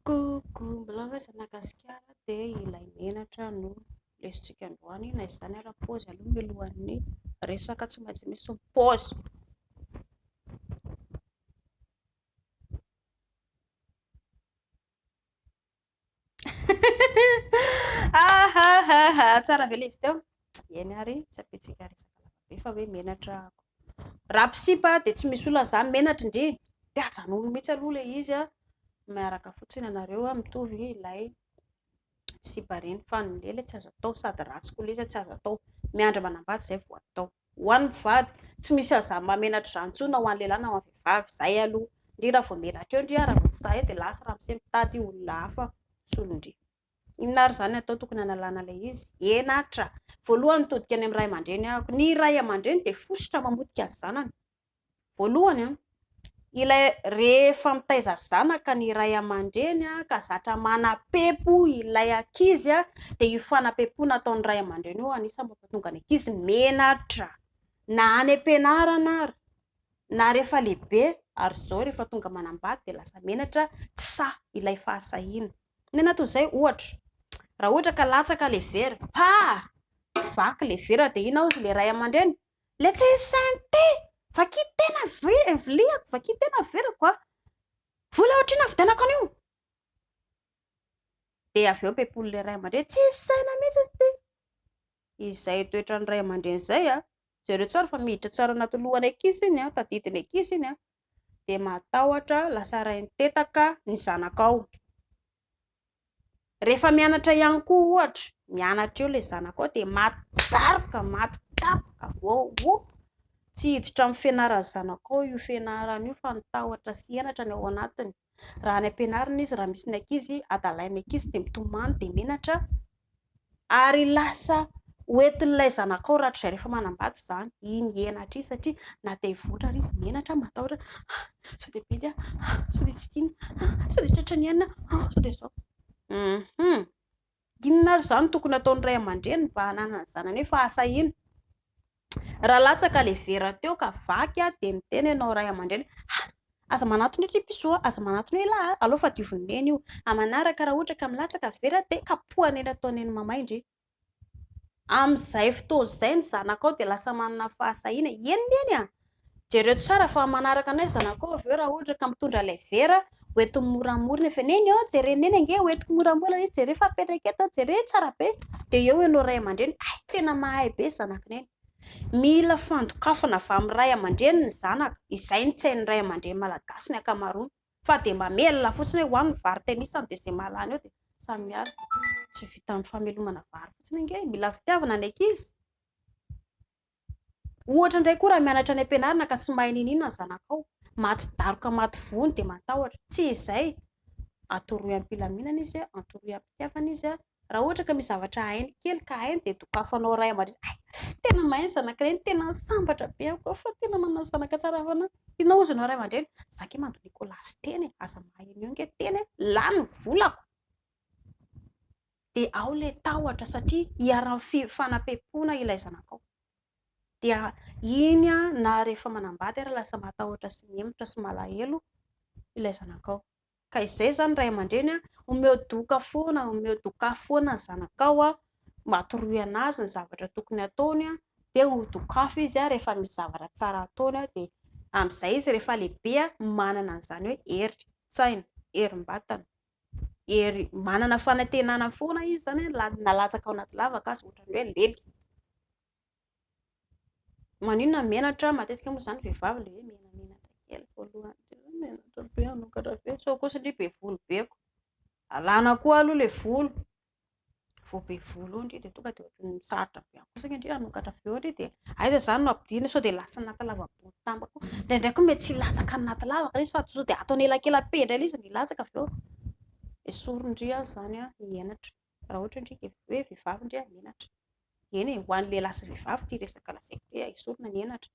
Coucou, mbola hoe za Madagasikara dia ilay menatra no lesotsika androany, na izany ary paozy aloha mialohan'ny resaka tsy maintsy misy ny paozy. Ahahaha, tsara ve ilay izy teo? Eny ary, tsy ampiantsika resaka lavabe fa hoe menatra ako. Raha mpisipa dia tsy misy olana izany, menatra ndry. Dia ajanony mihitsy aloha ilay izy, miaraka fotsiny ianareo mitovy ilay sipa ireny, fa ny lehilahy tsy azo atao sady ratsy koa ilay izy, tsy azo atao. Miandry manambady izay vao atao. Ho an'ny mpivady, tsy misy aza mahamenatra izany intsony na ho an'ny lehilahy na ho an'ny vehivavy. Izay aloha. Ndry raha vao menatra eo ndry ary raha vao tsy sahy eo dia lasa ramose mitady olona hafa misolo ndry. Inona ary izany no atao tokony hanalana ilay izy? Eny Atra! Voalohany mitodika any amin'ny ray aman-dreny ahako. Ny ray aman-dreny dia fositra mamotika ny zanany. Voalohany, ilay rehefa mitaiza zanaka ny ray aman-dreny ka zatra manam-pempo ilay ankizy dia io fanampepoana ataon'ny ray aman-dreny io anisan'ny mampatonga ny ankizy menatra na any am-pianarana ary na rehefa lehibe ary izao rehefa tonga manambady dia lasa menatra tsy sahy ilay fahasahiana. Inona toy izay ohatra, raha ohatra ka latsaka ilay vera, pah! vaky ilay vera dia inona hozy ilay ray aman-dreny? Let's say synthé, vakia tena viliako, vakia tena averako a! Vola ohatr'inona vidianako an'io? Dia avy eo ampiam-pon'ilay ray aman-dreny, tsisy saina mihitsy ity. Izay toetran'ny ray aman-dreny izay a! Jereo tsara fa miditra tsara anaty lohan'ny ankizy iny a, tadidin'ny ankizy iny a! Dia matahotra lasa rain-tetaka ny zanakao. Rehefa mianatra ihany koa ohatra, mianatra eo ilay zanako ao dia maty daroka, maty kapoka, voahopoka, tsy hiditra amin'ny fianaran'ny zanako ao io fianarana io fa ny tahotra sy henatra no ao anatiny. Raha any am-pianarana izy, raha misy ny ankizy, adalain'ny ankizy dia mitomany dia menatra. Ary lasa ho entin'ilay zanakao rahatrizay rehefa manambady izany iny henatra iny satria na te hivoatra ary izy menatra, matahotra an! sao dia bedy aho an! sao dia tsy tiany an! sao dia tratra ny ainy aho an! sao dia izao. Hum! Inona ary izany no tokony hataon'ny ray aman-dreny mba hananany zanany hoe fa asa ino? Raha latsaka le vera teo ka vaky a de miteny enao ray amandreny ha aza manatona eto ipiso a aza manatona ela a aleo fa dioviny neny io a manaraka raha ohatra ka milatsaka vera de kapoha neny atao neny mamay ndry amizay fotoana zay ny zanakao de lasa manana fahasahiana eny neny a Jereo tsara fa manaraka anay zanakao avy eo raha ohatra ka mitondra ilay vera ho entiny moramora ny avy neny ô, jereo neny ange ho entiko moramora izy, jereo fa apetraka eto, jereo tsara be, dia eo ianao ray aman-dreny hay tena mahay be zanaky neny. Mila fandokafana avy amin'ny ray aman-dreny ny zanaka, izay ny tsain'ny ray aman-dreny malagasy ny ankamaroany fa dia mamelona fotsiny hoe ho aho ny vary tenisany dia izay mahalany eo dia samy miala, tsy vitan'ny famelomana vary fotsiny ange e, mila fitiavana ny ankizy. Ohatra indray koa raha mianatra any am-pianarana ka tsy mahay n'inon'inona ny zanakao, maty daroka maty voa ny dia matahotra. Tsy izay, atoroy am-pilaminana izy, atoroy am-pitiavana izy. Raha ohatra ka misy zavatra hainy kely ka hainy dia dokafanao ray aman-dreny, hay, tena mahay ny zanakay iny, tena sambatra be aho koa fa tena manana zanaka tsara fa na. Inona hozy ianao ray aman-dreny, za ange mandoa Nicolas teny e, aza mahay an'io ange teny e, lany ny volako. dia ao ilay tahotra satria iharan'ny fi fanapempoana ilay zanakao dia iny a na rehefa manambady ary lasa matahotra sy mihemotra sy malahelo ilay zanakao ka izay izany ray aman-dreny a omeo doka foana omeo doka foana ny zanakao a matoroy anazy ny zavatra tokony ataony a dia ho dokafo izy a rehefa misy zavatra tsara ataony a dia amin'izay izy rehefa lehibe a manana an'izany hoe hery tsaina herim-batana hery manana fanantenana foana izy izany hoe na na latsaka ao anaty lavaka aza ohatran'ny hoe lely. Maninona menatra? Matetika moa izany vehivavy ilay hoe menamenatra kely voalohany, tsy hoe menatra be hanokatra be sao kosa ndry be volo be koa, alana koa aloha ilay volo vao be volo eo ndry dia tonga dia ohatran'ny sarotra be ihany koa saika ndry hanokatra avy eo ndry dia aiza izany no ampidirina sao dia lasa anaty lavabory tamba koa indraindray koa mety tsy hilatsaka anaty lavaka ilay izy fa sao dia ataony elakelam-pe indray ilay izy no hilatsaka avy eo esory ndry aza izany an ny henatra raha ohatra ndry ka hoe vehivavy ndry menatra eny e ho an'ny lehilahy sy vehivavy ity resaka lazaiko ity esorina ny henatra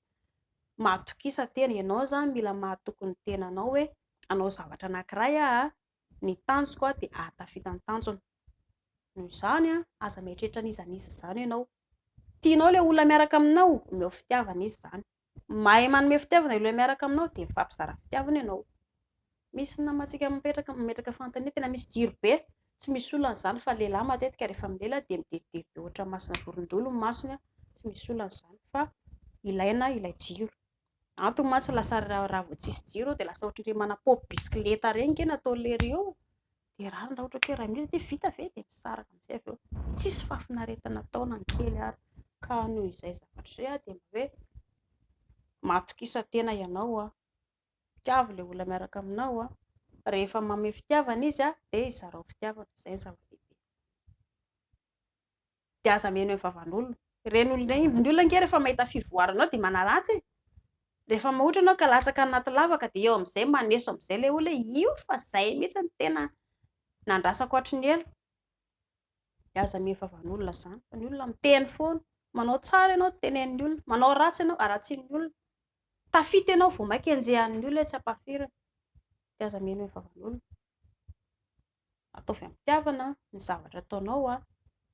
mahatokisa tena ianao izany mila mahatoky ny tenanao hoe hanao zavatra anankiray aho ny tanjoko dia hahatafita ny tanjony. Noho izany, aza mieritreritra an'iza an'iza izany ianao. Tianao ilay olona miaraka aminao? Omeo fitiavana izy izany. Mahay manome fitiavana ilay olona miaraka aminao dia mifampizara fitiavana ianao. Misy ny namantsika mipetraka, mametraka fanontaniana, tena misy jiro be. Tsy misy olana izany fa ny lehilahy matetika rehefa milela dia midebodebo be ohatran'ny masina vorondolo ny masony. Tsy misy olana izany fa ilaina ilay jiro. Antony mantsy lasa raha vao tsisy jiro dia lasa ohatran'ireny manapôpy bisikileta ireny nge nataon'i leiry eo dia rariny raha ohatra ka hoe raha mila dia vita ve dia misaraka amin'izay avy eo tsisy fahafinaretana atao na ny kely ary ka noho izay zavatra izay aho dia mba hoe matokisa-tena ianao aho mitiavo ilay olona miaraka aminao aho rehefa manome fitiavana izy aho dia izarao fitiavana izay ny zava-dehibe dia aza mihaino eny vavan'olona. Ireny olona ireny, ny olona ange rehefa mahita fivoarana ao dia manaratsy e! Rehefa mahotra ianao ka latsaka anaty lavaka dia eo amin'izay maneso amin'izay ilay olona hoe io fa izay mihitsy no tena nandrasako hatry ny ela. Dia aza mihaino vavan'olona izany fa ny olona miteny foana. Manao tsara ianao, tenenin'ny olona. Manao ratsy ianao, haratsian'ny olona. Tafita ianao vao mainka henjehan'ny olona hoe tsy ampafirina. Dia aza mihaino eny vavan'olona. ataovy amim-pitiavana ny zavatra ataonao,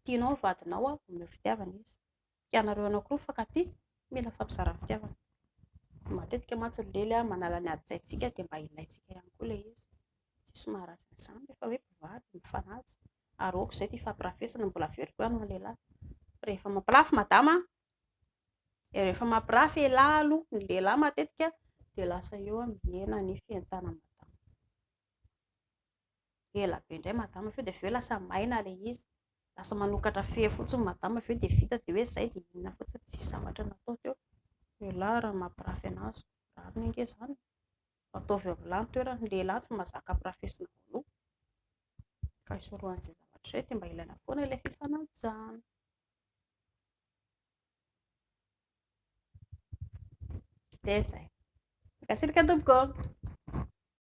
tianao ny vadinao omeo fitiavana izy, ianareo anankiroa mifankatia mila fampizarana fitiavana, matetika mantsy ny lely manala ny adin-tsaintsika dia mba ilaintsika ihany koa ilay izy, tsisy maharatsy an'izany rehefa hoe mpivady mifanaja ary aoka izay ity fampirafesana mbola very koa ianao lehilahy, rehefa mampirafy madama an, rehefa mampirafy elah aloha ny lehilahy matetika dia lasa eo mihena ny fientanan'ny madama. ela be indray madama avy eo dia avy eo lasa maina ilay izy, lasa manokatra fery fotsiny madama avy eo dia vita dia hoe izay dia inona fotsiny, tsisy zavatra natao teo, lehilahy raha ny mampirafy an'azy, rariny ange izany e, fa ataovy eo amin'ny lahy ny toerany, ny lehilahy tsy mahazaka ampirafesina voaloha, ka hisorohan'izay zavatra izay dia mba ilaina foana ilay fifanajana. Dia izay. Mankasirika tompoko ô.